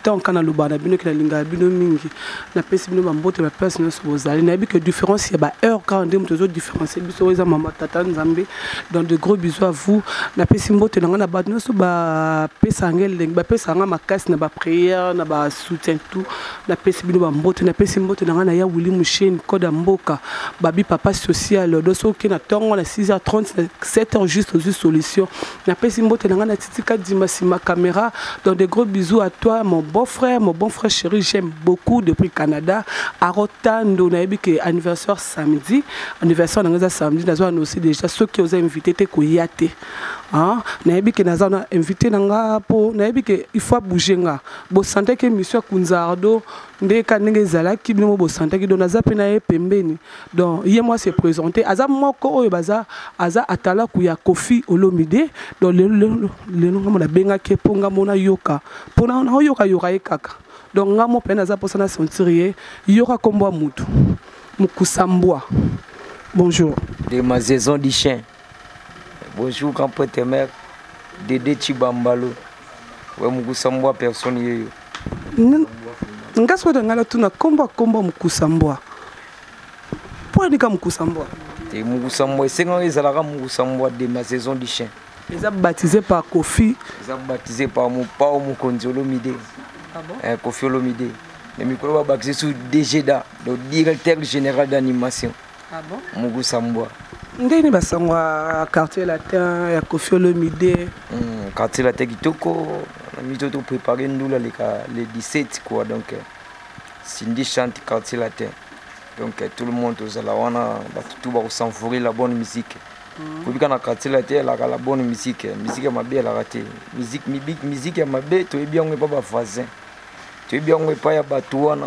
ntango kaka naloba na bino ke nalingaka bino mingi napesi bino bambote ba place nyonso bozali nayebi ke différence ya baheure kaka nde moto ezo différencie biso oyo eza mama tata nzambe dans de gros bisous à vous napesi mbote na ngai na bato nyonso bapesaka ngai elengi bapesaka ngai makasi na baprière na basoutien tout napesi bino bambote napesi mbote na ngai na ya wili musheni code ya mboka babi papa social do soki na ntongo na 6h30 na 7h juste ozwi solution Napesi mbote na ngai na Titi Kadima sima camera. Donc de gros bisous à toi mon beau frère, mon bon frère chéri, j'aime beaucoup depuis Canada. Arotando nayebi que anniversaire samedi, anniversaire na ngai eza samedi, nazo annoncer déjà ceux qui aux invités te koya te. Hein? Nayebi que naza na invité na ngai po nayebi que il faut bouger nga. Bo sentir que monsieur Kunzardo nde ka ndenge ezalaki bino bosantaki don aza mpe na ye pembeni don ye mwa se présente aza moko oyo baza aza atalaku ya kofi olomide don lelo ngambo nabengaki ye mpo ngambo nayoka mpo naoyokayoka ye kaka don ngambo mpe naza mposa na sentir ye yoka nkombo ya motu mokusa mbwa bonjour de ma saison du chien Bonjour grand prêtre mère Dede Chibambalo. Ouais mukusa mbwa personne yeyo. Nga soki na ngala tuna kombo kombo mukusa mbwa. Mpo anika mukusa mbwa. Te mukusa mbwa esenga ezalaka mukusa mbwa de ma saison du chien. Eza baptisé par Kofi. Eza baptisé par Mopao Mokonzi Olomide. Ah bon? Eh, Kofi Olomide. Mais mikolo ba baptisé sous DGDA, donc directeur général d'animation. Ah bon? Mugusa mbwa. Ndeni basango ya quartier latin ya Koffi Olomide. Mm, quartier latin kitoko na mito to préparer ndula leka le 17 quoi donc euh, Cindy chante quartier latin. Donc euh, tout le monde ozala wana bato tout ba savourer la bonne musique. Mm. Kobika na quartier latin elaka la bonne musique, musique ya mabe elaka te. Musique musique ya mabe toyebi yango epa ba voisins. Toyebi yango epa ya bato wana.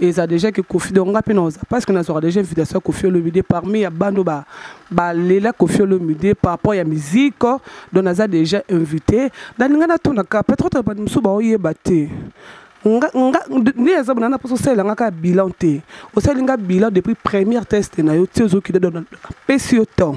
Et ça déjà que Kofi donc nga pena oza parce que na soir déjà invitation Kofi Olomide parmi ya bando ba ba lela Kofi Olomide par rapport ya musique donc naza déjà invité dans nga na tuna ka peut-être ba musu ba oyeba te nga nga ni eza bona na poso sala nga ka bilan te osali nga bilan depuis première test na yo ti ozo kide donc pesi yo temps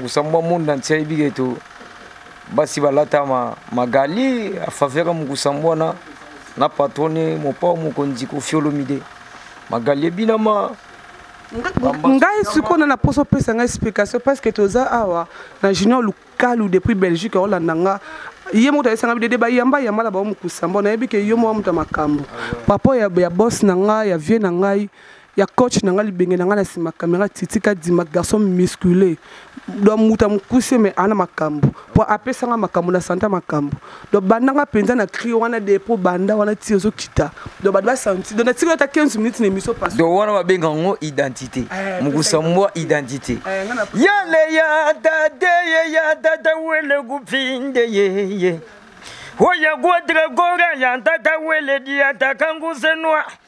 Musambwa monde entier ayebi ke to basi balata ma magali a faveur mukusambwa na na patrone mopao mokonzi kofiolomide magali ebinama ngai sikoyo na na mposa opesa ngai explication parce que toza awa na junior lukalu depuis belgique aolanda nga ye moko ayesanga bidede bayamba yamba na bango mokusa mbo nayebi ke yo moko moto ya makambo papa ya, ya bos na ngai ya vie na ngai ya coach na nga libenge na nga na nsima camera titi kadima garçon muscule do moto ya mokuse me ana makambo mpo apesa nga makambo na santa makambo do banda nga mpenza na cri wana de mpo banda wana ti ozokita do bato basanti do natikala ata 15 minutes na émission pas do wana babenga yango identité eh, mokusa mwa identité eh, yale ya dade ye ya dada wele gupinde yeye oya guadragora ya dada wele diatakangusenwa oh,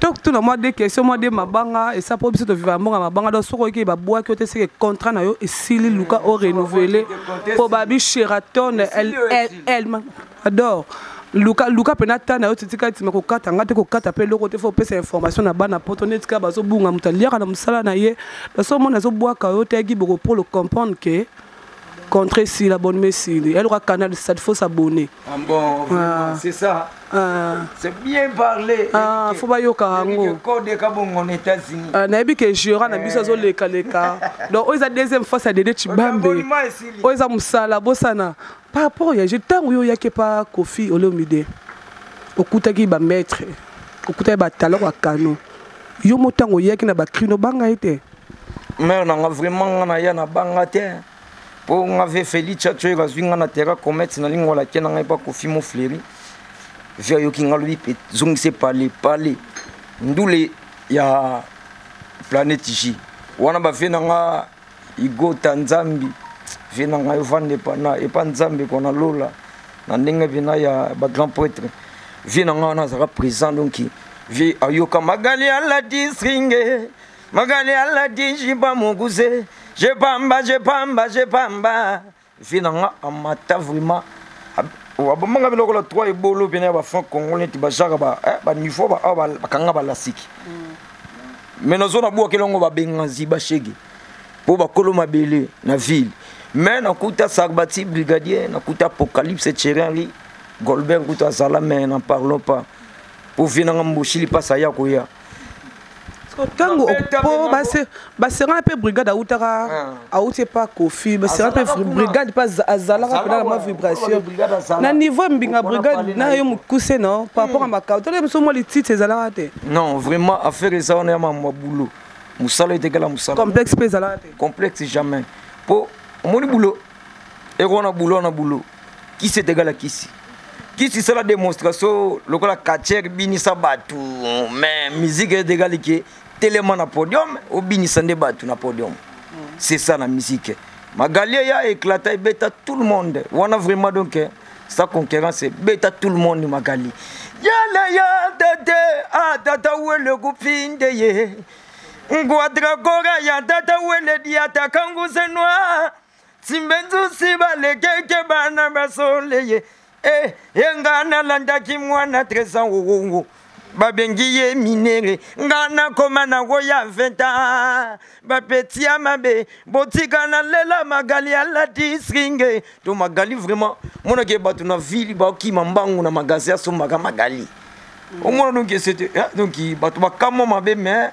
tokutuna mwa de question mwa de mabanga esa mpo biso toviva mbongo ya mabanga donc soki oyiki babwaki yo te seke contrat na yo esili luka o renouvele mpo babi sheraton elma ador luka luka mpe na ta na yo titika nsima kokata ngai te kokata mpe eloko te fo opesa information na bana poto nde tika bazobunga moto aliaka na mosala na ye naso omona azobwaka yo te yaki bokopolo comprendre ke contre si la bonne mesili elle aura canal ça faut s'abonner ah bon ah. c'est ça ah. c'est bien parlé ah faut ba yoka yango code ka bongo na États-Unis ah na que jura na biso eh. zo leka leka donc oza deuxième fois ça dede chibambe oza musala bosana par rapport ya je tango yo yake pa Kofi Olomide okutaki ba maître okutaki ba talent ba canon yo motango yaki na ba crino banga ete mère na nga vraiment nga na ya na banga te mpo nga ve felice atyoyeka azwi nga na terra comete na lingo alake na ngai mpo akofi mo fleri vi ayoki nga lobi mpe zongise pale pale ndule ya planete j wana bave na nga igota nzambi vie na ngai ovanda epa na epa nzambe ko na lola na ndenge mpena ya bagrand prêtre vie na ngai wana azalaka présent donc vie ayoka magali aladisringe magali aladi jiba mokuse je pamba je pamba je pamba vi na nga amata vraiment wabomanga bi lokola trois ebolo pene ya bafranc congo neti bajaka baniveau eh, awa bakanga balasiki mm. me nazo nabwaki elongo babenga ziba shege mpo bakolo mabele na ville me nakuta sarbati brigadier nakuta apocalypse cherenli golbert kuta azala me na parlon pas mpo vie nanga mboshili mpasi aya koya ntango po baserana mpe brigade autaka ah. auti epa kofi baserana mpe brigade mpe azalaka mpena na mwa vibration na niveau ya mbinga brigade na yo mokuse no par rapport ya hmm. makao tala biso mwa litite ezalaka te non vraiment affaire eza wana ya mamwa boulot mosala etekala mosala complexe mpe ezalaka te complexe jamais mpo omoni boulot ekona boulot na boulot kisi etegala kisi kisi sala démonstration lokola katiere binisa bato mais musique etegali ke telema na podium obinisa nde bato na podium c'est ça na musique magalie ya éclata ebeta tout le monde wana vraiment donc eh, sa concurrence ebeta tout le monde magali yala ya tete a tata wele kupinde ye ngwadrakora ya tata wele diatakangusenwa simbenzusi balekeke bana basoleye e e nga nalandaki mwana tresa wowongo babengi ye minere nga nakoma nango ya 20 a bapeti ya mabe botika nalela magali alati sringe to magali vraiment monake bato na ville bakima mbangu na magasin asombaka magali omona donc esete donc bato bakamwa mabe mais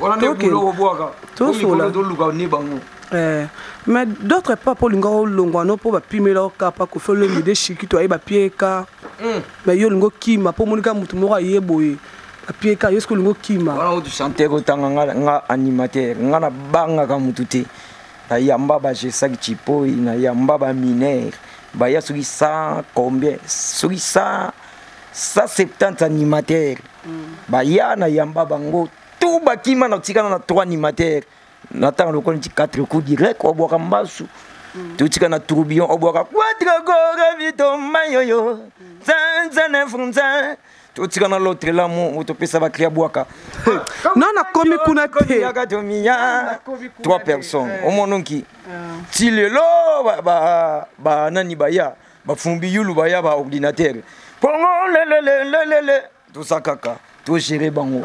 wana nde bulo okobwaka tosola toluka ne bango eh, mais d'autre part mpo olinga olongwa no mpo bapimela okapa kofi olombi de shikito aye bapieka hmm. mais yo olinga okima mpo omonika motu moko aye boye apieka yo soki olinga okima wana kutu sante ekotanga nga animateur nga nabangaka motu te nayamba bajesaki cipoi nayamba baminere baya soki 100 combien soki 100 170 animateur baya na yamba bango to bakima na kotikana na trois animateur na ntango lokola nti quatre coup direct obwaka mbasu mm. totika na tourbillon obwaka quatre gore vitombayoyo zanzane funzan totika na lotre lamu topesa bakria bwaka no nakomi kuna teyaka tomiya trois personnes omononki ti lelo banani baya bafumbi yulu baya ba ordinatere kongo lelelelelele toza kaka togere bango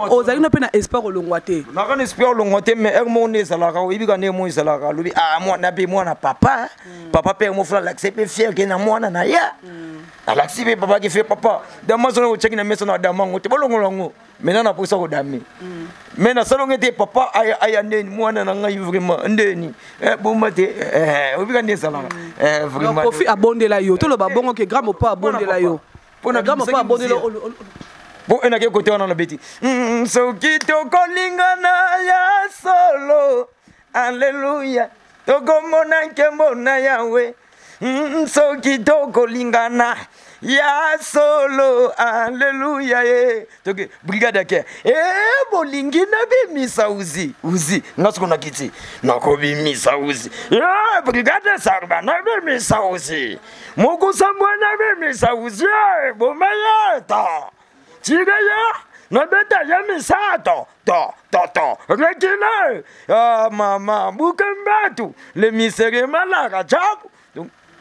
ozali no mpe na espoir olongwa te naka na espoir olongwa te mais heure moko nde ezalaka oyebi ka ndenge moko ezalaka alobi ah, mwana mpe mwana papa hmm. papa mpe yango fula alakisi mpe fier ke na mwana na ye hmm. alakisi mpe papa ke fe papa dama zona otyaki na mesa na dama yango te bolongola yango maintenant naposa kodame mais nasalonge te papa aya, aya ndeni mwana na ngai vraiment ndeni eh, boma te eh, obika nde ezalaka eh, vraiment kofi abondela yo toloba eh, bongo ke grand mopa abondela yo pona grand mopa abondela po ena ke kote wana na beti mm, soki tokolingana ya solo Alleluia. Tokomona nkembo na Yahweh. Mm, soki tokolingana ya solo aleluya e toke brigade ya kere e bolingi nabimisa uzi uzi nga soko nakiti nakobimisa uzi e brigade sarba nabimisa uzi mokusambwa nabimisa uzi e bomayeta Chideya nabeta ya misato to to to rekile ah, mama buke mbatu le misere malaka chabu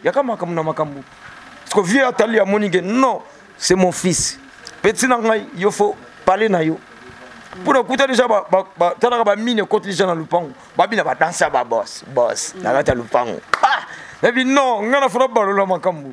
yaka makambo na makambo siko vie atali amoni ke non c'est mon fils peti na ngai yo fo pale na yo mpo na kuta deja talaka bamine ekoti deja na lopango babina badanse ya babos bos na kati ya lopango ah! nabi non ngai nafona balola makambo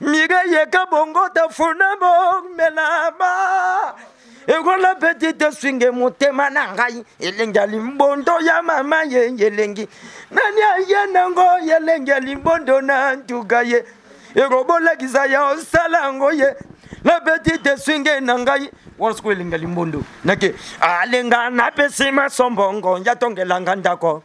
Mireille Kabongo tafuna bomelama ekola petite swinge motema na ngai elengi ya limbondo ya mama ye elengi nani aye nango elengi ya limbondo na ntuka ye ekobolakisa ya osala yango ye la petite swinge na ngai wana sikoyo elengi ya limbondo nake alenga napesi masombongo yatongelanga ndako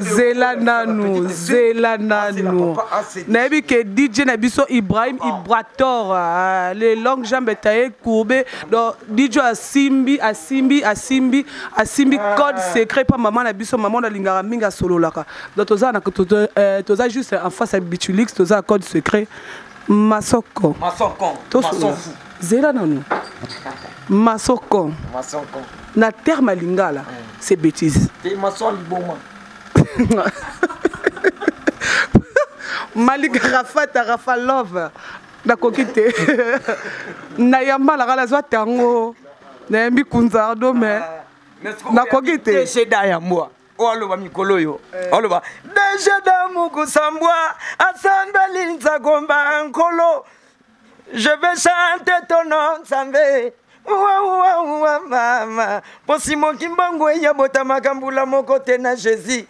zela nanu zela nanu nayebi ke dj na biso ibrahim ah. ibrator ah, le long jambe taye courbe donc dj asimbi asimbi asimbi asimbi ah. code secret mpa mama na biso mama oyo alingaka mingi asololaka donc toza euh, juste en face ya bitulix toza code secret masoko masoko zela nanu masoko masoko na terme ya lingala mm. c'est bêtise te masoko liboma malika rafata rafa love nakoki te nayamba laka nazwa tango nayambi kunzardo me ah, nakoki te jeda ya mbwa oyo aloba mikolo oyo eh. aloba dejeda mokusambwa asambeli nzakomba nkolo Je vais chanter ton nom, Nzambe. Waouh, mama. Posi mokimbangu eya bota makambo la moko te na Jésus.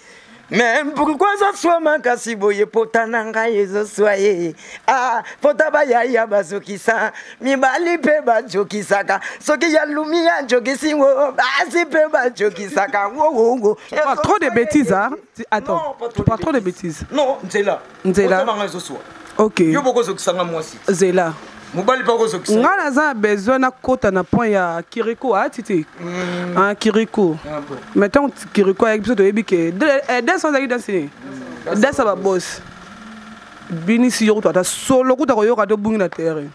Mais pourquoi ça soit makasi boye pota na ngai ezoswa ye ah, pota bayaya bazokisa mibali mpe bajokisaka soki ya lumi ajokisi ngo basi mpe bajokisaka ngongongo trop de bêtises hein? attends tu parles trop de bêtises non nzela nzela Motema ngai ezoswa ok yo bokozokisa nga mwasi zela mobali mpe akozokisa ngai naza na besoin nakota na point ya kiriko ayati ah, te mm. ah, kiriko ah, mais ntango kiriko ayaki biso toyebi ke eh, des azalaki danse nini mm. des ya babosi binisi yo kutu ata solo kutu akoyoka te obungi na terrain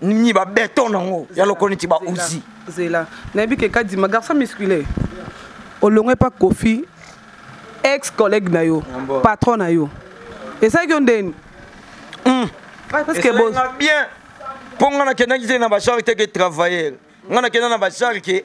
ni ba beton nango ya loko neti ba uzi zela nayebi ke kadima garçon musculaire olongo epa kofi ex collègue na yo patron na yo esalaki yo ndeni hmm. bien mpo ngai nakendaki te na bashar te ke travailleur ngai nakenda na bashar ke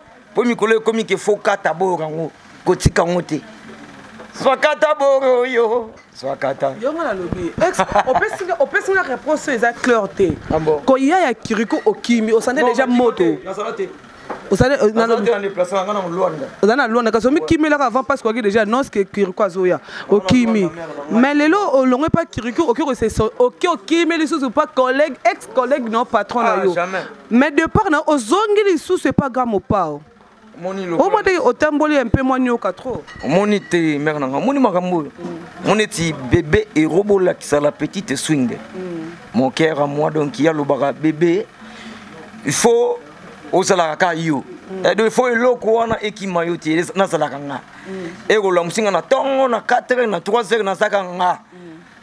mpo mikolo ekomi ke fo kata boyoka yango kotika yango te zwakata boro yo zwakata yongo nalobi opesi nga réponse oyo eza claire te ah koya ya kiriko okimi osante déjà moto ozali na lwanda kasi omikimelaka avant parce okoki déjà annonce ke kiriko azoya okimi mais lelo olongwe mpa kiriko okoki okimi lisusu mpa collègue ex collègue no patron na ah, yo mais de part na ozongi lisusu epa ga mopao omoni te otamboli ya mpe mwanioka trop omoni te mare na nga omoni makambo oyo omoni eti bebe ero bolakisa la petite swing mm. mon cœur à moi donc ye alobaka bebe il faut ozalaka kaka yo mm. edo eh, il faut eloko wana ekima yo te nazalaka nga mm. ekolamusi nga na ntongo na 4 heures na 3 heures nazalaka nga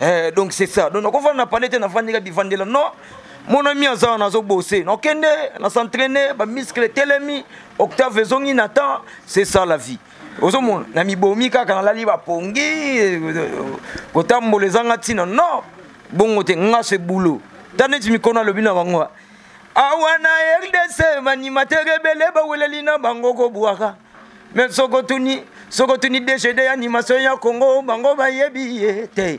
eh, donc c'est ça donc nakofanda na palais te nafandika bivandela non mon ami aza wana azobose nakende na s'entraîne bamiskle etelemi octave ezongi na temps c'est ça la vie ozomona na mibomi kaka nalali bapongi kotambola ezanga ntina non bongo te nga se boulot ta neti mikono alobi na bango awa na rdc banimatere ebele baweleli na bango kobwaka me soko tuni soko tuni dgd ya animation ya congo bango bayebi ye te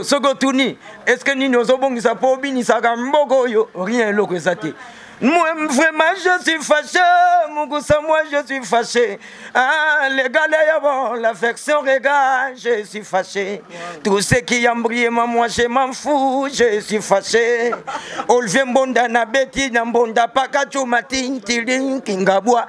soko tuni est ce que nini ozobongisa mpo obinisaka mboka oyo rien eloko eza te Moi, vraiment, je suis fâché. Moukoussa, moi, je suis fâché. Ah, les gars, bon, l'affection, les gars, je suis fâché. Tout ce qui embrouille, moi, je m'en fous, je suis fâché. Olvie Mbonda, Nabeti, Nambonda, Pakachu, Matin, Tilin, Kingabwa.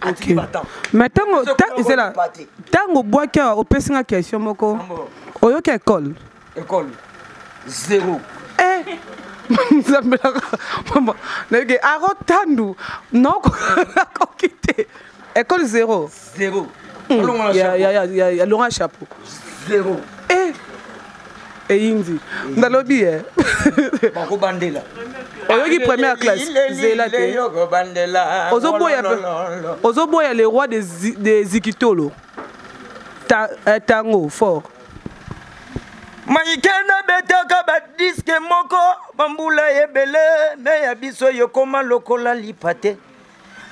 Okay. mais ntango zela ntango obwaki awa opesi nga question moko oyoki ekole ekole zero eh. nzambelaka mama nayoki aro tandu nakoki te ekole zero zero hmm, ya longa chapeau zero eh. eyindi ndalobi ye bakobandela oyoki première classe zela te ozoboya le roi de zikitolo eh, tango fort maike nabetaka badiske moko bambula ebele me ya biso yokoma lokola lipa te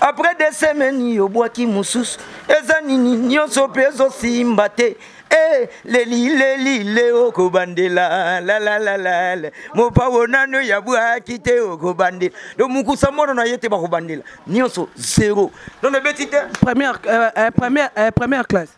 apres de semaine obwaki mosusu eza nini nyonso mpe ezosimba te Eh, leli leli le okobandela lalalalala mopawo nano ya bwaki te okobandela do mokusa mono na ye te bakobandela nyonso zero nono ebeti te première, euh, euh, première, euh, première classe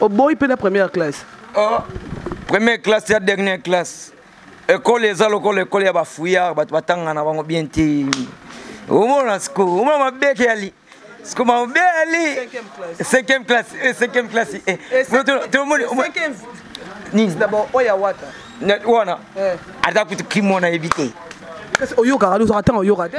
oboyi mpe na première classe oh, première classe ya dernière classe ekole eza lokola ekole ya bafouillard bato batanga na bango bien te omona siko omona mabeke yali siko mabe yali cinquième classe eh, cinquième classe eh. Eh, tomoni nini wana aza kutu kimo nayebi te oyokaka ozaka ntango oyoka te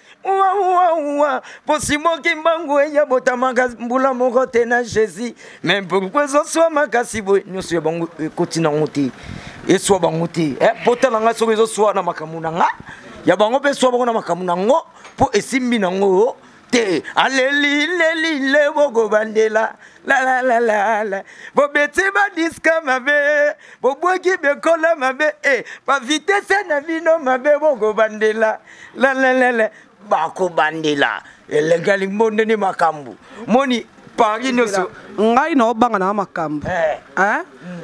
wawawa posimoki mbangu eya botamaka mbula moko te na jésus me pourkui ezoswa makasi boye nyonso ya bango ekoti eh, nango te eswa bango te eh, pota na ngai soki ezoswa na makambo na nga ya bango mpe eswa bango na makambo na ngo mpo esimbi na ngo te aleli leli le bokobandela lalalalala bobeti badiska mabe bobwaki bekola mabe e eh, bavitese na bino mabe bokobandela lelelele bakobandela elenge limbonde nde makambo moni paris nyonso ngai naobanga nanga makambo eh. eh?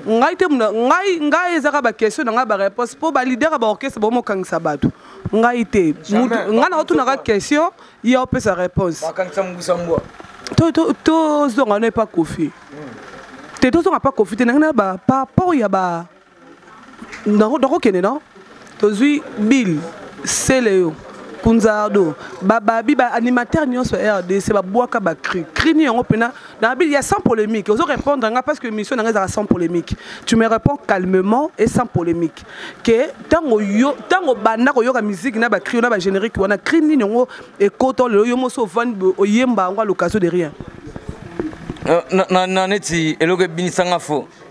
ngai te ngai ngai ezaka baquestion na ngai bareponse mpo balider ya baorchestre bango mokangisa bato ngai te ngai naotunaka question ye opesa réponse tozonga no epa kofi hmm. te tozonga pa kofi te nangai na ba par rapport ya ba nakokende no tozwi bill seleyo kunzardo bababi baanimateur nyonso ya rdc babwaka bacri cri ni yango mpena na bili ya sans polémique ozo répondre nga parce que émission na nga ezalaka sans polémique tu me réponds calmement et sans polémique ke ntango yo ntango obanda koyoka musique na bacri yo na bagénérique wana cri nini yango ekota lelo yo mosi ovandi oyemba yango à l'occasion de rien euh, na neti eloko ebinisanga fo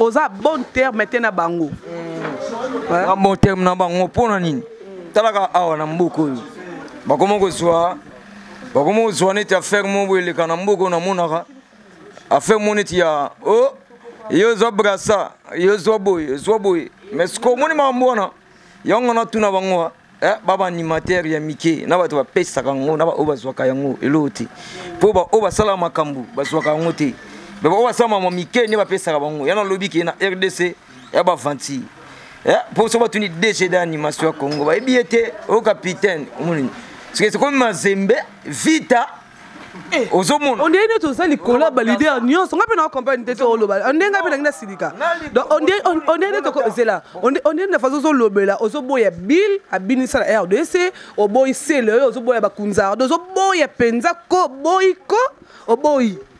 oza bon terme te na bango mm. bon terme na bango mpo na nini talaka awa na mboka oyo bakoma kozwa bakoma kozwa neti affaire moko boye eleka na mboka oyo namonaka affaire moko neti ya o oh, ye ozwa brasa ye ozwa boye ozwa boye mais sikoyo omoni makambo wana yango natuna bango Eh, ba baanimatere ya mike na bato bapesaka yango na baoyo bazwaka yango eloko te mpo baoyo basalaka makambo bazwaka yango te me baoyo basala mama mike nde bapesaka bango yana alobi ke na rdc ya bavanti eh, mpo so batuni dg de animation ya congo bayebi ye te o capitaine omonini soki ekomi mazembe vita Eh, ozomona ondenge neti oza likolo ya balider nyonso ngai mpe na compagne te tooloba ondenge ngai mpe nangi nasilika ondenge neti okozela ondenge na façon ozolobela ozoboya bill abinisa na rdc oboyi sele oyo ozoboya bakunzardo ozoboya mpenza ko boyi ko oboyi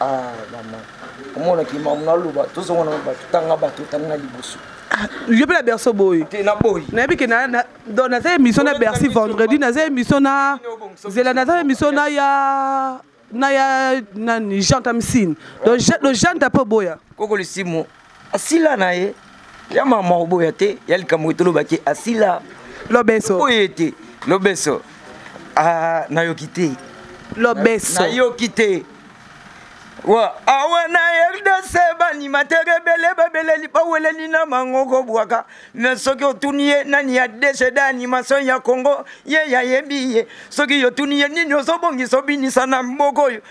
ah mama omona ki mamu naloba tozonga na bato tanga bato otanga na liboso ah, yo mpe na berso boye nayebi ke donc naza émission na bercy vendredi naza émission na zela naza émission na ya na ya nani jean tamsine donc jean ta mpe oboya koko lisimo asila na ye ya mama oboya te ya likambo etolobaki asila lobeso oye te lobeso ah, nayoki te lobeso nayoki te wa awa na rdc baanimatere ebele babeleli baweleli na bango kobwaka me soki otuni ye nani ya dcd animation ya congo ye yayebi ye soki yotuni ye nini ozobongisa obinisa na mboka oyo